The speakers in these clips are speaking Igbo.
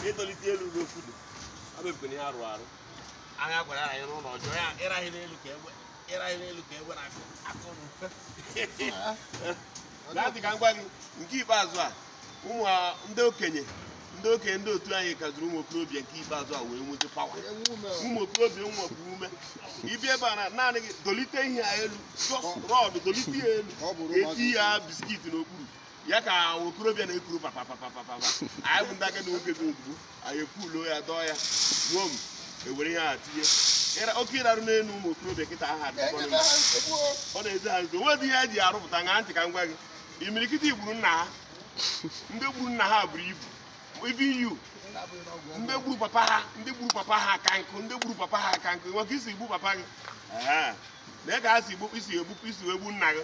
ịtolite elu n'okwu dị abụbụkwana ihe arụ arụ anya gwara ya ịrụ ụlọ ọjọọ ya ịraghị n'elu ka egbe ịraghị n'elu ka egbe na-akụ akụ na mfe gaa dị ka m gwa gị nke ikpeazụ a ụmụ a- ndị okenye ndị okenye ndị otu anyị kaziri ụmụ okorobịa nke ikpeazụ a wee nweta pawa ụmụ okorobịa nwekwa ume ibi ebe a na- naanị gị dọlite ihe a elu just rọd dọlite ya elu Ọ bụrụ etinye biskit n'okpuru ya ka okorobịa na-ekuru papapapapapa anyị bụ ndị agadi nwoke bụ mgbu anyị ekwulo ya dọọ ya gbuo m ewere ihe a tinye Ịra- oke ịrarụ n'elu ụmụ okorobịa kịta aha dị mkpọrọ Enyebe ha nsogbu o. ọ na-ezi ha nso nwedị ihe eji arụpụta ṅaa ntị ka m gwa gị imirikiti gburu nna ha ndị gburu nna ha buru ibu ibu iyu ndị gburu papa ha ndị gburu papa ha ka nkụ ndị gburu papa ha ka nkụ nwoke ịsị igbu papa gị Ehe. na ị ga-asị igbu isi egbupụ isi wee gbu nna gị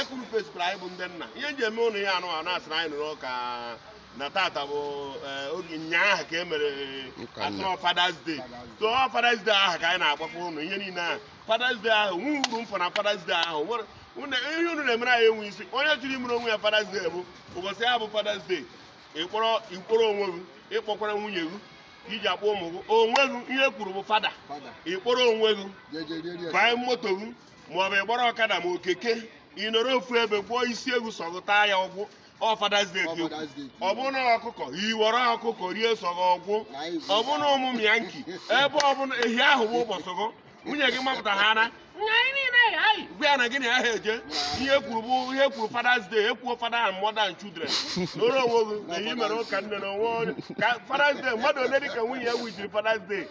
ekwuru fesipụrụ anyị bụ ndị nna ihe m ji eme ụnụ ya anụ anụ asịrị anyị nụrụ ka na tata bụ eh, oge nyaahụ ka e mere Ụka nna. a sịrị fathers day so ọ fathers day ahụ ka anyị na-agwakwa ụnụ ihe niile ahụ fathers day ahụ nwe uru m fụ na fathers day ahụ nwere ụnụ- ihe unu na-emere anyị enwe isi onye chọrọ imere onwe ya fathers day bụ ụbọchị ya bụ fathers day ịkpọrọ ịkpọrọ onwe gị ịkpọkwara nwunye gị iji akpọ ụmụ gị onwe gị ihe e kwuru bụ fada ịkpọrọ onwe gị banye moto gị maọbụ ịgbara ọkada ma ọ keke ị nọrọ ofu ebe goo isi ewu sọ gụ taa ya ọ gwụ ọ Father's Day ka ekwu ọ bụ na ọkụkọ iwere ọkụkọ rie sọ gụ ọ gwụ ọ bụ na ụmụ m ya nki ebe ọ bụla ehi ahụ bụ ụbọchị gụ nwunye gị mapụta ha na gwa ya na gị na ya ha eje ihe e kwuru bụ ihe e kwuru Father's Day ekwuo fada and mother and children nọrọ onwe gị na ihe mere ụka nne na onwe onye ka Father's Day mmadụ ole dị ka nwunye ya wijiri Father's Day